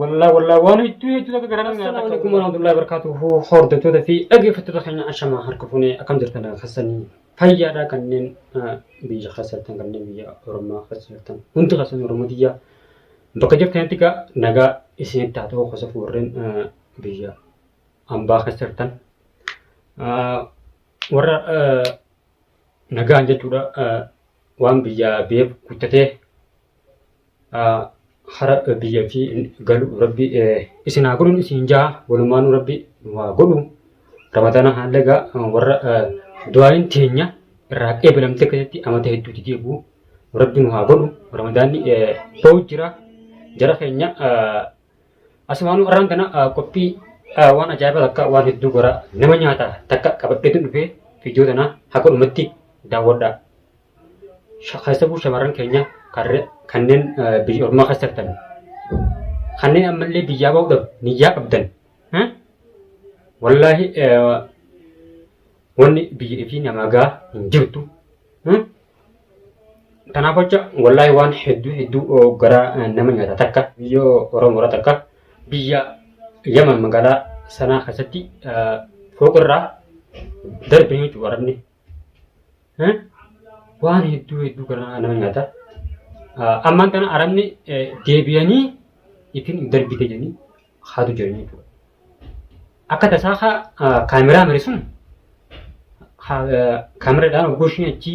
Wallah wallah waan hedduu hedduu takka garaa nama nyaata. Assalamu alaikum warahmatullahi wabarakatuhu hordoftoota fi dhaggeeffattoota keenya ashamaa harka fuunee akkam jirtan dhagaa keessanii fayyaadhaa kanneen ah, biyya keessa jirtan kanneen biyya Oromoo keessa jirtan hundi keessan Oromoo biyya bakka jirtanitti egaa nagaa isinitti haa ta'u gosa warreen ah, biyya ambaa keessa jirtan Ah, warra ah, nagaan jechuudha ah, waan biyya beeku guddatee hara biyya fi galu rabbi isin haa godhu isin jaa walumaanu rabbi nu haa godhu ramadana haallee gaa warra du'aayin teenya irraa eebilamte keessatti amata hedduuti deebi'u rabbi nu haa godhu ramadaanni ba'u jira jara keenya asumaanu irraan tana qophii waan ajaa'ibaa takka waan hedduu goraa nama nyaata takka qabadheetu dhufee fiidiyoo tana haa godhumatti daawwadhaa. keessattuu shamarran keenya kanneen biyya ormaa keessa jirtan kanneen ammallee biyyaa bahuudhaaf niyyaa qabdan wallaahi wanni biyya fi namaa gaa hin jirtu. Kanaaf jecha wallaahi waan hedduu hedduu gara nama nyaata takka biyya Oromoora takka biyya Yaman magaalaa sanaa keessatti fooqirraa darbee jechuudha warabni Eh? Waan hedduu hedduu garaa nama nyaata. Ah, Ammaan kana arabni eh, deebi'anii ittiin darbite jedhanii haatu jiranii jechuudha. Akka tasaa haa ah, kaameraa mire sun haa, eh, kaameraadhaan hoggoo ishiin achi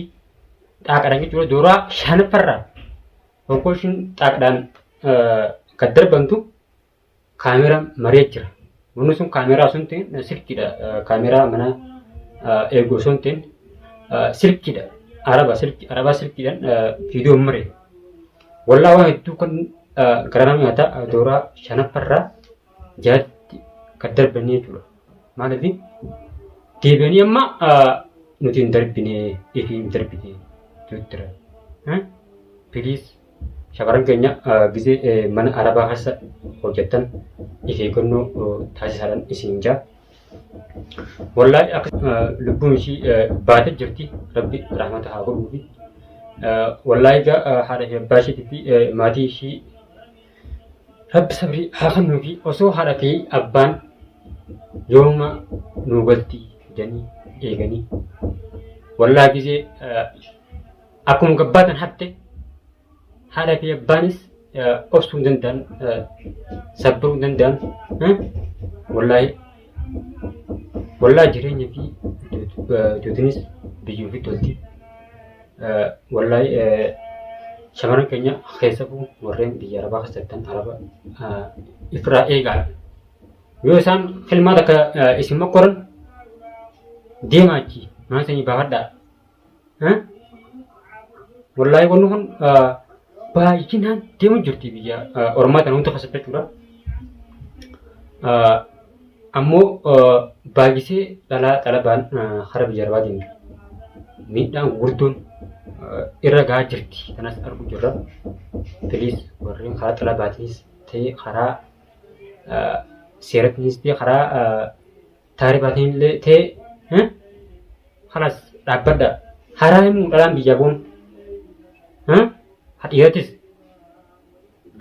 dhaaqadhaan jechuudha. Dooraa shanaffarraa hoggoo ishiin dhaaqadhaan eh, kan darbantu Kaamera maree jira. Manni sun kaameraa sun silkiidha. Kaameraa mana eegu sun silkiidha. Araba silki araba silkiidhaan viidiyoo maree. Wallaa waan hedduu kan garaa nama nyaata dooraa shanaffarraa jaatti kan darbanii jechuudha. Maaliif deebi'anii amma nuti hin darbine ifi hin darbine jechuudha. Please Shamarran keenya gisee mana arabaa keessa hojjettan if eeggannoo taasisaadhaan isin jaa. Wallaahi akka lubbuun ishii baate jirti rabbi rahmata haa godhuufi. Wallaahi egaa haadha fi abbaa ishiitii fi maatii ishii rabbi sabrii haa kennuufi osoo haadha fi abbaan yooma nuu galti jedhanii eeganii. Wallaahi gisee Akkuma gabbaatan hafte haadha fi abbaanis obsuu hin danda'an sabbaruu hin danda'an wallaahi wallaahi jireenya fi duutinis biyyuu fi tolti wallaahi shamarran keenya keessafuu warreen biyya arabaa keessattan araba ifirraa eegaa yoo isaan filmaata akka isin mokkoran deemaa achi mana sanii baafadhaa Wallaahi wanni kun baay'inaan deemu jirti biyya Oromaa kana hunda keessatti jechuudha. Ammoo baay'isee dhalaa dhalabaan hara biyya arbaa deemti. Miidhaan gurguddoon irra gahaa jirti kanas argu jirra. Filiis warreen karaa xalabaatiinis ta'e karaa seerattiinis ta'e karaa Taarif atiillee tee eh? halas dhaabbadha. Haraa himuu dhalaan biyyaa boon. Eh? Hadhiiratis.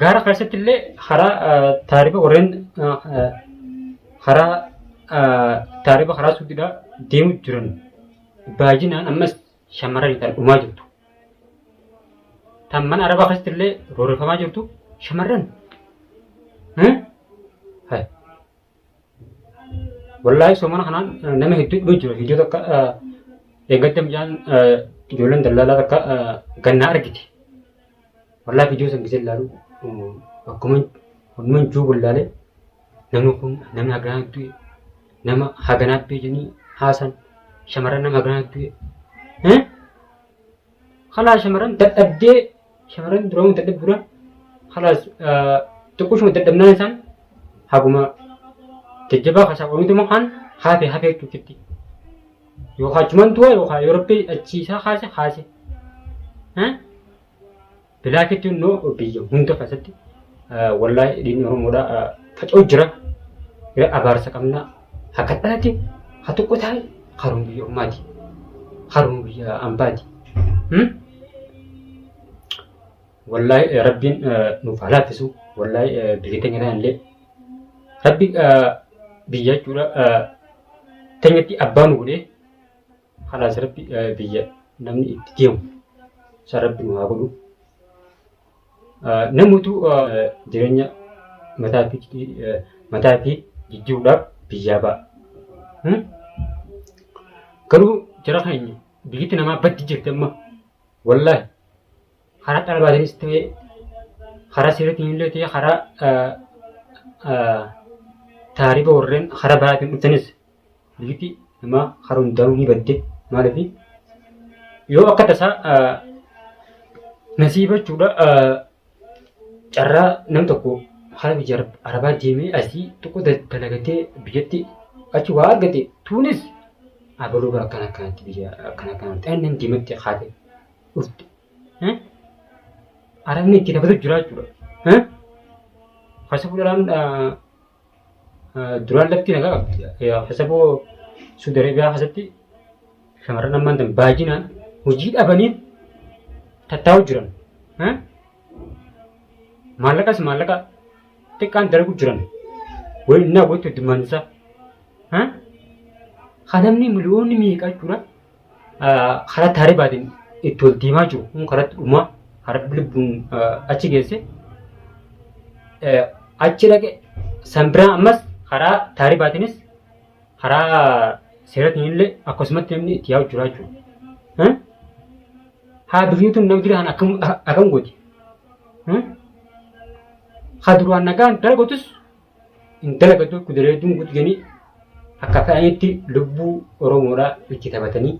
Gaara keessatti illee haraa eh, taarifa warreen eh, eh, haraa eh, taarifa haraa suuqidhaa deemu jiran baay'inaan ammas shamarranii ta'an dhumaa jirtu. Tan mana arabaa keessatti illee roorrifamaa jirtu shamarran. Eh? Hai. Wallaahi soomana kanaan nama hedduu dhibee jira. Viidiyoo takka eeggatta mucaan ijoolleen dallaalaa takka gannaa argite. Wallaahi viidiyoo san gisee ilaalu akkuma hundumaan juu wallaalee namni kun namni haganaa du'e nama haganaa du'e jedhanii haasan shamarran nama haganaa du'e. Halaa shamarran dadhabdee shamarran duramu dadhabdu dura halaas xiqqooshuma dadhabnaan isaan haguma jajjabaa kasaa oomitu immoo kaan hafe hafe jechuufitti. Yookaan achumaan du'a yookaan yoo rabbi achiisaa kaase kaase. Bilaakitti immoo biyya hunda keessatti wallaahi dhiigni Oromoodhaa faca'u jira. Abaarsa qabna. Akka dhalaatti haa tokko taa'e haroon biyya ormaati. Haroon biyya ambaati. Wallaahi rabbiin nuuf haa laaffisu. Wallaahi biyya keenya kana illee rabbi biyya jechuudha teenyatti abbaa nu godhee Halaas rabbi biyya namni itti deemu san rabbi nu haa godhu. Namutu jireenya mataa fi mataa fi jijjiiruudhaaf biyyaa ba'a. Garuu jara keenya biyyatti namaa baddi jirti amma wallaahi karaa dhala baatiinis ta'ee karaa seeratiin illee ta'ee karaa taariba warreen karaa biraatiin dhuftanis Lipi namaa hara hundaa'uu ni badde maaliif yoo akka tasaa nasiiba jechuudha carraa nam tokko hara biyya arabaa deemee asii tokko dalagatee biyyatti achi waa argate tuunis abaluu bara akkana akkanatti biyya akkana akkanatti annan deematti haate dhufte arabni itti dabalatu jira jechuudha. Haasa fuudhaan Duraan lafti nagaa qabdi. Hasaboo Suudi Arabiyaa keessatti shamarran ammaan tan baay'inaan hojii dhabanii tattaa'u jiran. Maallaqas maallaqa xiqqaan dalagu jiran. Wayii innaa wayii tuddummaan isaa. Kan namni miliyoonni meeqa jechuudha. karatti haribaatiin itti ol deemaa jiru kun karatti dhumaa harbi lubbuun achi geesse achi dhaqe san biraa ammas karaa taaribaatiinis karaa seeratiin illee akkasumatti namni itti yaa'u jira jechuudha. Haa durii tun namni jiraan akkam akkam gooti. Haa duraan nagaan dalagotus intala gadduu kudureedduun gudganii akka fedhanitti lubbuu Oromoodhaa itti taphatanii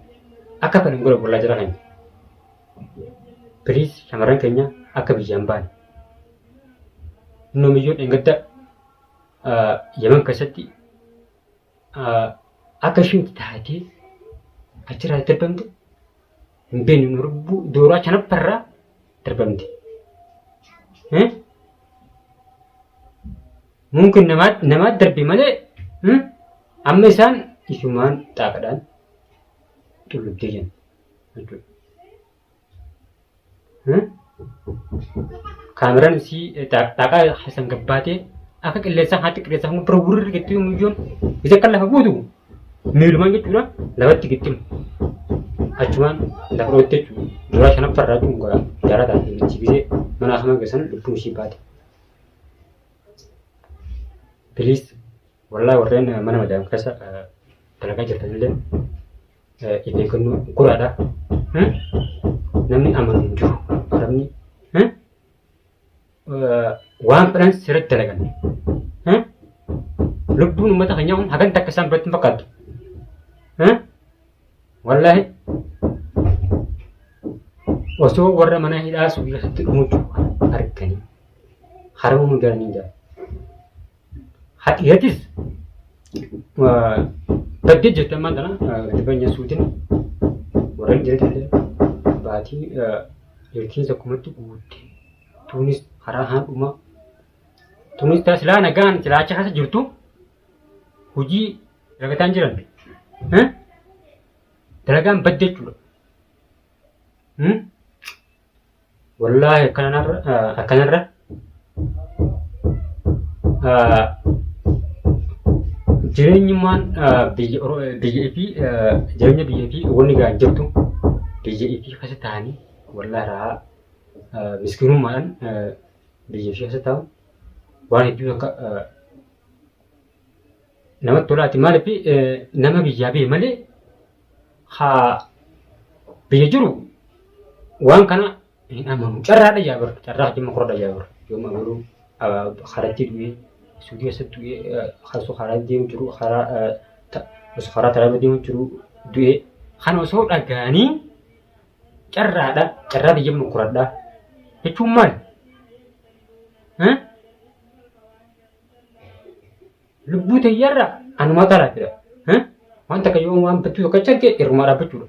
akka fedhan gola bollaa jira kan piliis shamarran keenya akka biyyaan ba'an inni omiyyuu dheengadda yaman keessatti akka isheen itti taatee achirraa itti darbamte hin beeknu lubbuu dooraa shanaffarraa darbamte. Mungkin namaa darbe malee amma isaan isumaan xaafadhaan xullubdee jiran jechuudha. Kaameraan isii xaaqaa keessan gabbaatee akka qilleensaa haati qilleensaa hanga bira gurri gittii muyyoon isa kan lafa buutu miilumaan jechuudha lafatti gittimu. Achumaan lafa dhootte jechuudha. Duraa shanaffaa irraa tun gara jaraa taate michi gisee mana hamaa geessan lubbuun ishii baate. Please wallahi warreen mana madaam keessa dalagaa jirtanillee Of eeggannoo guraadha. Namni amanu hin jiru. Arabni waan fedhan sirriitti dalagan. Lubbuun uummata keenyaa kun hagan takka isaan biratti hin fakkaattu. Wallaahi osoo warra mana hidhaa sun keessatti dhumutu arganii harma mudaanii jira. Hatiyatis baddee jirti ammaan tana gadi banya suutin warra jirti illee baatii jirtiin sakkumatti guutte. Tunis karaa haadhuma. Tunis taas silaa nagaan silaacha keessa jirtu hojii dalagaan jiran. Dalagaan badde jechuudha. Wallaahi akkanarra akkanarra jireenyummaan biyya biyya fi jireenya biyya fi wanni ga'an jirtu biyya fi keessa ta'anii wallaahi raa miskiinummaadhaan biyya fi keessa ta'u waan hedduu akka namatti tolaati maaliif nama biyyaa bee malee haa biyya jiru waan kana hin amanu carraadha yaa bar carraa jimma korodha yaa bar yoo magaruu karatti du'ee suudii keessatti du'ee kaasuu karaa deemu jiru karaa osoo karaa talaaba deemu jiru du'ee kan osoo dhagaanii carraadha carraa biyya mukuradha jechuun maal? Lubbuu teyyarra anuma qara jira. Wanta akka yoo waan bittuu tokko achi argee irrumaa dhaabbachuudha.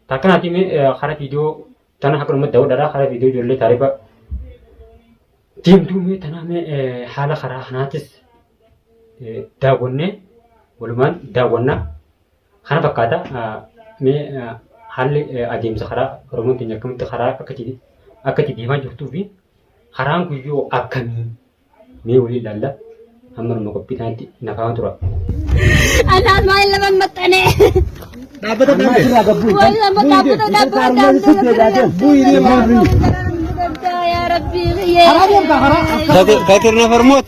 Takkanaatii mee hara viidiyoo tana akka dhumatti daawwadhaadha. Hara viidiyoo ijoollee taarifa deemtuu mee tanaa mee haala karaa kanaatis daawwannee walumaan daawwannaa. Kana fakkaata mee haalli adeemsa karaa Oromoon keenya akkamitti karaa akka itti akka itti deemaa jirtuu fi karaan kun yoo akkamii mee walii ilaalla amma dhuma qophii kanatti nafaa tura. Anaan maal nama hin maxxanee. Dhaabbata kan irraa gabbuu. Waan nama dhaabbata dhaabbata dhaabbata. Bu'ii deemaa fi. Yaa Rabbii biyyee. Karaa deemtaa karaa. Katir na farmoot.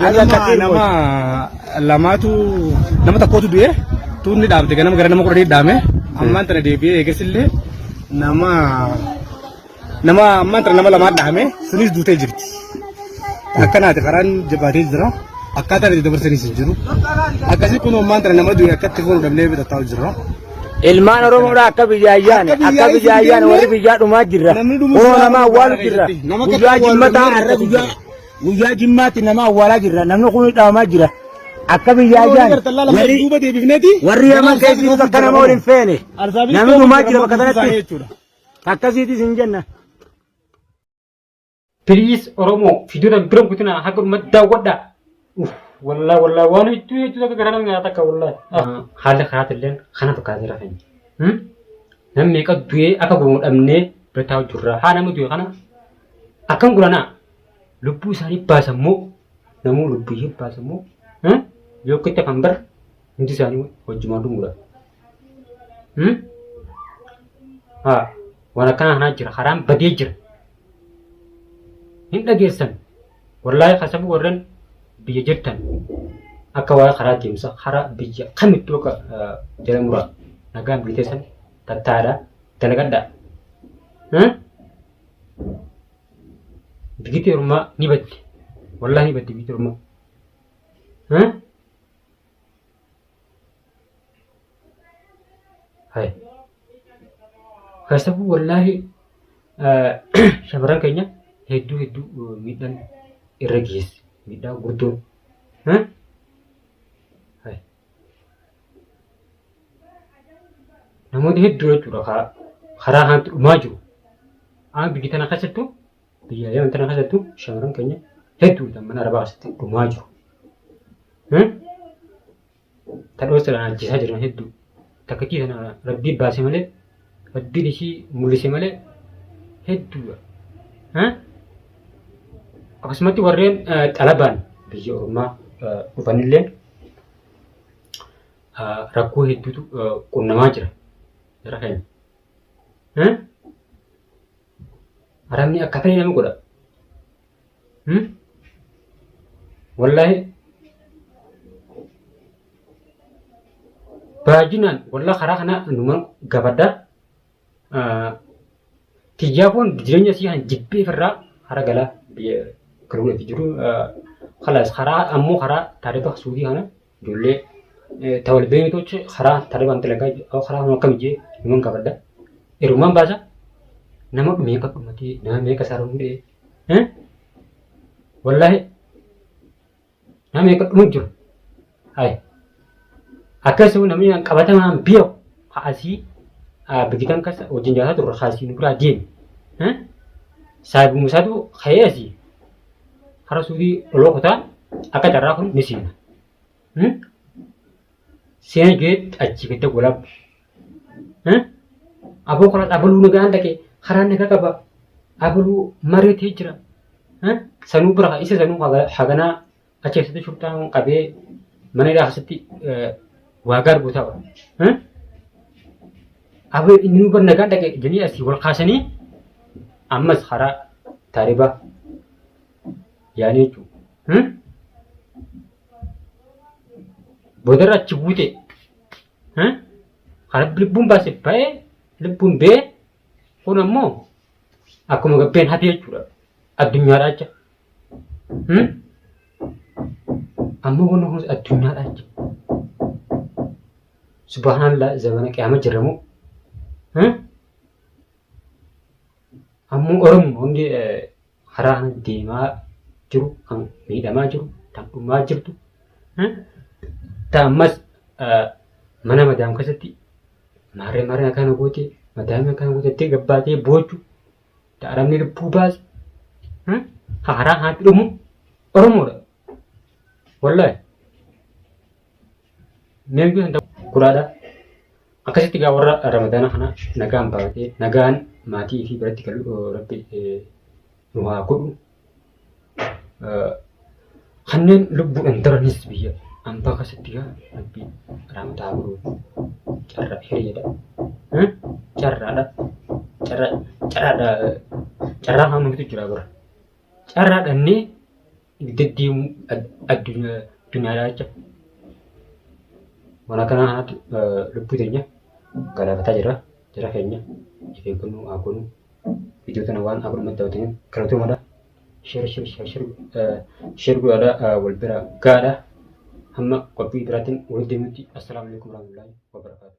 Ganama nama lamaatu nama tokkootu du'e tuunni dhaabde ganama gara nama kudha dhaame ammaan tana deebi'ee eegasillee nama nama ammaan tana nama lamaa dhaame sunis duutee jirti. Akkanaati karaan jabaatee jira. Akkaataan itti dabarsanis hin jiru. Akkasii kun ammaan tana nama du'e akkatti fuudhu dhabnee bitataa jirra. Ilmaan Oromoodha akka biyya ayyaane akka biyya ayyaane warri biyyaa dhumaa jirra. Namni dhumus Kunoo nama awwaalu jirra. Nama akka Guyyaa awwaalu jimmataa namni har'a tokko guyyaa Guyyaa jimmaatti nama awwaalaa jirra. Namni kun dhabamaa jira. Akka biyyaa jaan warri yaman keessi akka nama waliin feene namni dhumaa jira bakka sanatti akkasiitis hin jenna. Please Oromoo fiidiyoo bira guutinaa haga dhumatti daawwadhaa. Wallaa wallaa waan hedduu hedduu akka garaa nama nyaata akka wallaa. Haalli karaatti illee kana fakkaatee jira keenya. Namni meeqa du'ee akka gurmuudhamnee bira taa'u jirra. Haa nama du'e kana akkam gulanaa. lubbuu isaanii baasan moo namuu lubbuu ishee baasan moo hmm? yoo kitta kan bara hundi isaanii wajjumaan dhumuudha. Hmm? Haa waan akkanaa kanaa jira karaan badee jira. Hin dhageessan wallaahi kasabuu warreen biyya jirtan akka waa'ee karaa deemsa karaa biyya kamittuu akka eh, jala muraa nagaan biyya teessan tattaadha dalagadhaa. Hmm? Digiti ormaa ni baddi. Wallaahi ni baddi digiti ormaa. Hah? Hai. Kasabuu wallaahi eh, shamarran keenya hedduu hedduu eh, miidhaan irra geesse. Miidhaa gurguddoo. Hah? Hai. namoota hedduu jechuudha ka- karaa kanatti dhumaa jiru. Aan biyya tana keessattuu biyya yaman tana keessattuu shamarran keenya hedduu kan mana arabaa keessatti dhumaa jiru. Hmm? Tadhoosaan ajjeesaa jiran hedduu. Takkittii tana rabbii baase malee rabbiin ishii mul'ise malee hedduudha. Eh? Akkasumatti warreen eh, xalabaan biyya ormaa eh, dhufanillee eh, rakkoo hedduutu eh, qunnamaa jira. Jara keenya. Eh? Arabni akka ta'e nama godha. Hmm? Wallahi baay'inaan wallah karaa kana numa gabadha. Tiyyaafoon jireenya isii kan jibbee firraa hara galaa biyya kaluun itti jiru. Kalaas karaa ammoo karaa taarifa suudii kana Ijoollee tawal beektochi karaa tarribaan talagaa yoo karaa hunda akkam jee himan gaafadha. Ergumaan baasa nama meeqa dhumatee nama meeqa isaa hundee wallaahi nama meeqa dhumu jiru. Hayi akkasuma namni qabatamaan biyya haasii bigitan kasa wajjin jaataa turre haasii nu biraa deeme. Saayibu Musaatu ka'ee asii. hara suudii oloo kutaa akka carraa kun ni seena. Hmm? Seena jeet achii gadda golab. Hmm? Aboo kanas abaluu nagaan dhaqe karaan nagaa qaba. Abaluu mareetee jira. Hmm? Sanuu bira haa- isa sanuu haga- haganaa achi keessatti shurxaan qabee mana hidhaa keessatti eh, waa gaar guutaa oole. Hmm? Aboo inni bar nagaan dhaqee jedhanii asii wal kaasanii ammas karaa taaribaa yaanii jechuudha. Boodarra achi buute karaa lubbuun baase ba'ee lubbuun ba'ee kun ammoo akkuma gabbeen hafe jechuudha addunyaadhaa jecha. Ammoo kun addunyaadhaa jecha. Subhaanallah zamana qiyaama jirra moo? Ammoo Oromoo hundi karaa kana deemaa jiru kan miidhamaa jiru kan dhumaa jirtu ta ammas mana madaam keessatti maarree maarree akkana goote madaamii akkana goote jettee gabbaatee boochu ta arabni lubbuu baase karaa kanatti dhumu Oromoodha. Wallahi. Neen kun hanta guraadha. Akkasitti gaa warra Ramadaana kana nagaan baatee nagaan maatii fi biratti galu eh, rabbi eh, nu haa godhu. Eh, Kanneen lubbuudhaan daranis biyya ambaa akkasitti gaa rabbi raamataa godhu. Carraa hiriidha. Eh? Carraadha. Carraa carraadha. eh, Carraa haamamtu jira bara. carraa dhabnee deddeemuu addunyaa addunyaadhaa jecha mana kana kanatti lubbuu teenya galaafataa jira jara keenya of eeggannoo haa goonu viidiyoo kana waan akkuma daawwataniif galatoomadha shir shir shir shir shir godhaadha wal bira gaadha hamma qophii biraatiin walitti deemutti assalaamu alaikum warahmatullahi wabarakatuh